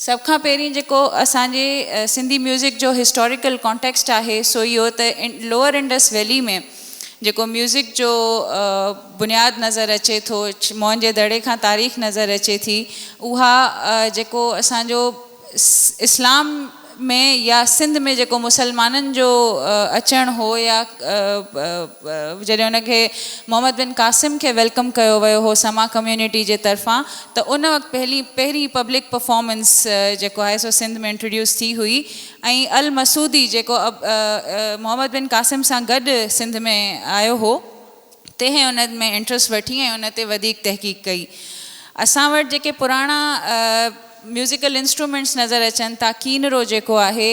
سڀ کان پهرين جيڪو اسان جي سنڌي ميوزڪ جو هسٽاريڪل ڪانٽيڪسٽ آهي سو اهو ته لوئر انڊس ويلي ۾ جيڪو ميوزڪ جو بنياد نظر اچي ٿو موهن جي دڙي کان تاريخ نظر اچي ٿي اها جيڪو اسان جو اسلام ۾ يا سنڌ ۾ جيڪو مسلمانن جو اچڻ هو يا جڏهن ان کي محمد بن قاسم کي ويلڪم ڪيو ويو هو سما ڪميونٽي جي طرفان ته ان وقت پهلين پهرين پبلڪ پرفارمنس جيڪو آهي سو سنڌ ۾ انٽروڊيوس ٿي هئي ۽ المسعودي جيڪو محمد بن قاسم سان گڏ سنڌ ۾ آيو هو تنهن ان ۾ انٽرسٽ وٺي ۽ ان تي وڌيڪ تحقيق ڪئي اسان وٽ جيڪي پراڻا ميوزيڪل انسٽرومينٽس نظر اچن ٿا ڪينرو جيڪو آهي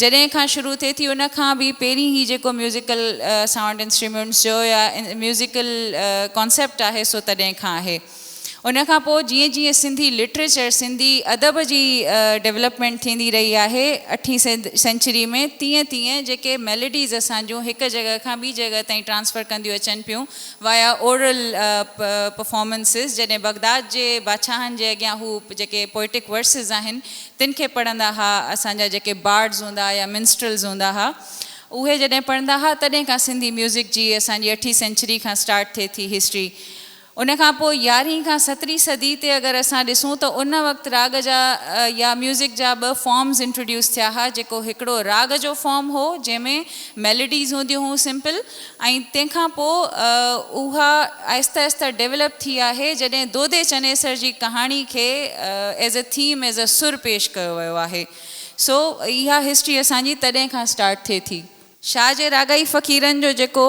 جڏهن کان شروع ٿئي ٿي ان کان به پهرين هي جيڪو ميوزيڪل سائونڊ انسٽريميونٽس جو يا ميوزيڪل ڪانسيپٽ آهي سو تڏهن کان آهي ان کان پوء جيئن جيئن سنڌي لٽريچر سنڌي ادب جي ڊيولپمينٽ ٿيندي رهي آهي اٺين سينچري ۾ تيئن تيئن جيڪي ميليڊيز اسان جون هڪ جڳهه کان ٻي جڳهه تائين ٽرانسفر ڪنديون اچن پيون وايا اورل پرفارمنسز جڏهن بغداد جي بادشاهن جي اڳيان هو جيڪي پوئٽڪ ورسز آهن تن کي پڙهندا ها، اسان جا جيڪي بارڊز هوندا يا منسٽرلز هوندا ها، اهي جڏهن پڙهندا ها، تڏهن کان سنڌي ميوزڪ جي اسان جي اٺين سينچري کان اسٽارٽ ٿئي ٿي هسٽري. ان کان پوء يارهين کان سترهين صدي تي اگر اسان ڏسون ته ان وقت راڳ جا يا ميوزڪ جا ٻه فارمز انٽروڊيوس ٿيا ها، جيڪو هڪڙو راڳ جو فارم هو، جنهن ۾ ميلوڊيز هونديون هيون سمپل، ۽ تنهن کان پوء اها آهستي آهستي ڊيولپ ٿي آهي جڏهن دودي چنيسر جي ڪهاڻي کي as a theme as a Sur پيش ڪيو ويو آهي سو اها هسٽري اسان جي تڏهن کان اسٽارٽ ٿئي ٿي. شاهه جي راڳائي فقيرن جو جيڪو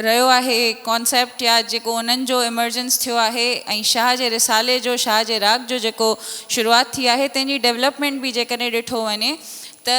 رهيو آهي ڪانسيپٽ يا جيڪو انهن جو ايمرجنس ٿيو آهي ۽ شاهه جي رسالي جو شاهه جي راڳ جو جيڪو شروعات ٿي آهي تنهن جي ڊيولپمينٽ به جيڪڏهن ڏٺو وڃي ته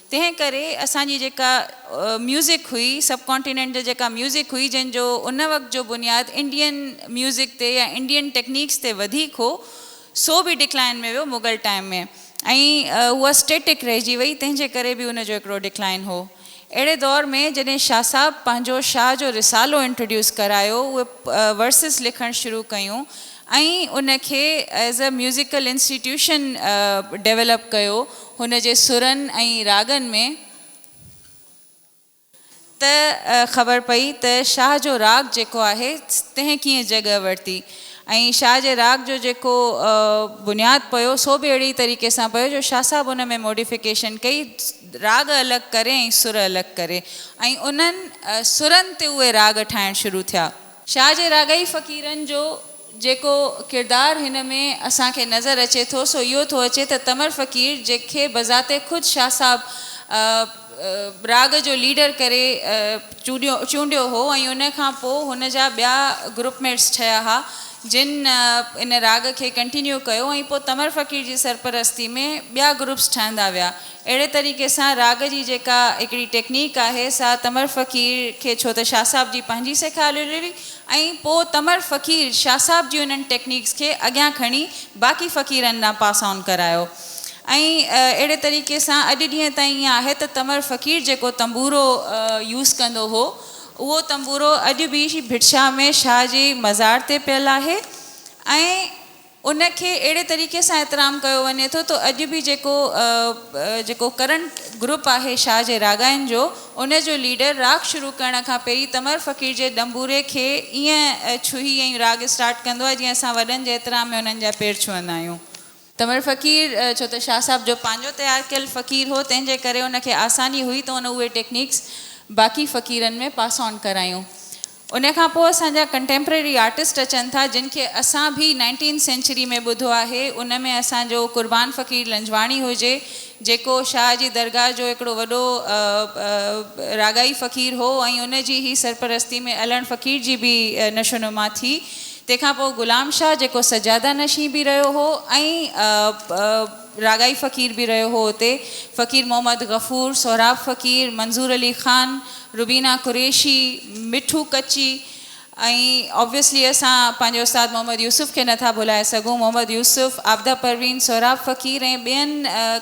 تنهن ڪري اسان جي جيڪا ميوزڪ هئي سب ڪانٽيننٽ جي جيڪا ميوزڪ هئي جنهن جو ان وقت جو بنياد انڊين ميوزڪ تي يا انڊين ٽيڪنيڪس تي وڌيڪ هو سو به ڊڪلائن ۾ ويو مغل ٽائيم ۾ ۽ اها اسٽيٽڪ رهجي وئي تنهن جي ڪري به ان جو هڪڙو ڊڪلائن هو اهڙي دور ۾ جڏهن شاهه صاحب پنهنجو شاهه جو رسالو انٽروڊيوس ڪرايو اهي ورسز لکڻ شروع ڪيون ۽ ان کي as a musical institution develop ڪيو. هن جي سرن ۽ راڳن ۾. ته خبر پئي ته شاهه جو راڳ جيڪو آهي تنهن ڪيئن جڳهه ورتي ۽ شاهه جي راڳ جو جيڪو بنياد پيو سو به اهڙي طريقي سان پيو جو شاهه صاحب ان ۾ موڊيفڪيشن ڪئي راڳ الڳ ڪري ۽ سر الڳ ڪري ۽ انهن سرن تي اهي راڳ ٺاهڻ شروع ٿيا. شاهه جي راڳئي فقيرن جو جيڪو ڪردار هن ۾ اسان کي نظر اچي ٿو سو اهو ٿو اچي ته تمر فقير جنهن کي بذات خود شاهه صاحب راڳ جو ليڊر ڪري چونڊيو هو ۽ ان کان پوء هن جا ٻيا گروپ ميٽس ٺهيا ها جن ان راڳ کي ڪنٽينيو ڪيو ۽ پوء تمر فقير جي سرپرستي ۾ ٻيا گروپس ٺهندا ويا اهڙي طريقي سان راڳ جي جيڪا هڪڙي ٽيڪنيڪ آهي سا تمر فقير کي ڇو ته شاهه صاحب جي پنهنجي سيکاريل هئي ۽ پوء تمر فقير شاهه صاحب جي انهن ٽيڪنيڪس کي اڳيان کڻي باقي فقيرن ڏانهن پاس آن ڪرايو ۽ اهڙي طريقي سان اڄ ڏينهن تائين ائين آهي ته تمر فقير جيڪو تنبورو يوز ڪندو هو اهو تنبورو اڄ به ڀٽ شاهه ۾ شاهه جي مزار تي پيل آهي ۽ ان کي اهڙي طريقي سان احترام ڪيو وڃي ٿو ته اڄ به جيڪو جيڪو ڪرنٽ گروپ آهي شاهه جي راڳاين جو ان جو ليڊر راڳ شروع ڪرڻ کان پهرين تمر فقير جي ڏنبوري کي ائين ڇهي ۽ راڳ اسٽارٽ ڪندو آهي جيئن اسان وڏن جي احترام ۾ انهن جا پير ڇهندا آهيون. تمر فقير ڇو ته شاهه صاحب جو پنهنجو تيار ڪيل فقير هو تنهن جي ڪري ان کي آساني هئي ته ان اهي ٽيڪنيڪس باقي فقيرن ۾ پاس آن ڪرايون. ان کان پوء اسان جا ڪنٽيمپرري آرٽسٽ اچن ٿا جن کي اسان ڀي نائنٽينٿ سينچري ۾ ٻڌو آهي ان ۾ اسان جو قربان فقير لنجواڻي هجي جيڪو شاهه جي درگاهه جو هڪڙو وڏو راڳائي فقير هو ۽ ان جي هي سرپرستي ۾ علڻ فقير جي ڀي نشو نما ٿي تنهن کان پوء غلام شاهه جيڪو سجاده نشين ڀي رهيو هو ۽ راڳائي فقير به رهيو هو اتي، فقير محمد غفور، سهراب فقير، منظور علي خان، روبينا قريشي، مٺو ڪچي ۽ Obviously اسان پنهنجي استاد محمد يوسف کي نه ٿا ڀلائي سگهون، محمد يوسف، عابده پروين، سهراب فقير ۽ ٻين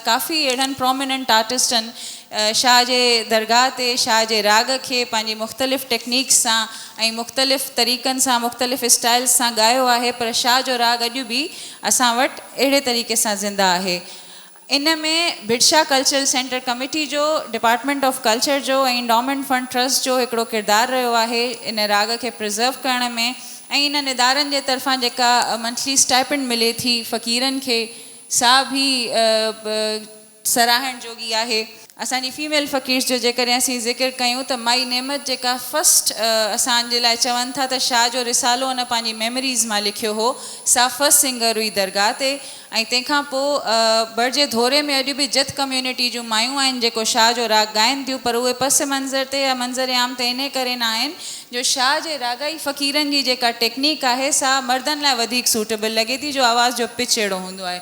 ڪافي اهڙن Prominent آرٽسٽن شاهه جي درگاهه تي شاهه جي راڳ کي پنهنجي مختلف Techniques سان ۽ مختلف طريقن سان مختلف Styles سان ڳايو آهي پر شاهه جو راڳ اڄ به اسان وٽ اهڙي طريقي سان زنده آهي ان ۾ ڀٽشاهه ڪلچرل سينٽر ڪميٽي جو ڊپارٽمينٽ آف ڪلچر جو ۽ انڊومينٽ فنڊ ٽرسٽ جو هڪڙو ڪردار رهيو آهي ان راڳ کي پرزرو ڪرڻ ۾ ۽ انهن ادارن جي طرفان جيڪا منٿلي اسٽائپنڊ ملي ٿي فقيرن کي سا به سراهڻ جوڳي آهي اسان جي فيميل فقيرس جو جيڪڏهن اسين ذڪر ڪيون ته مائي نعمت جيڪا فرسٽ اسان جي لاء چون ٿا ته شاهه جو رسالو ان پنهنجي ميموريز مان لکيو هو سا فرسٽ سنگر هئي درگاهه تي ۽ تنهن کان پوء ٻرجي ڌوري ۾ اڄ به جت ڪميونٽي جون مايون آهن جيڪو شاهه جو راڳ ڳائين ٿيون پر اهي پس منظر تي يا منظر عام تي انهي ڪري نه آهن جو شاهه جي راڳائي فقيرن جي جيڪا ٽيڪنيڪ آهي سا مردن لاء وڌيڪ سوٽيبل لڳي ٿي جو آواز جو پچ اهڙو هوندو آهي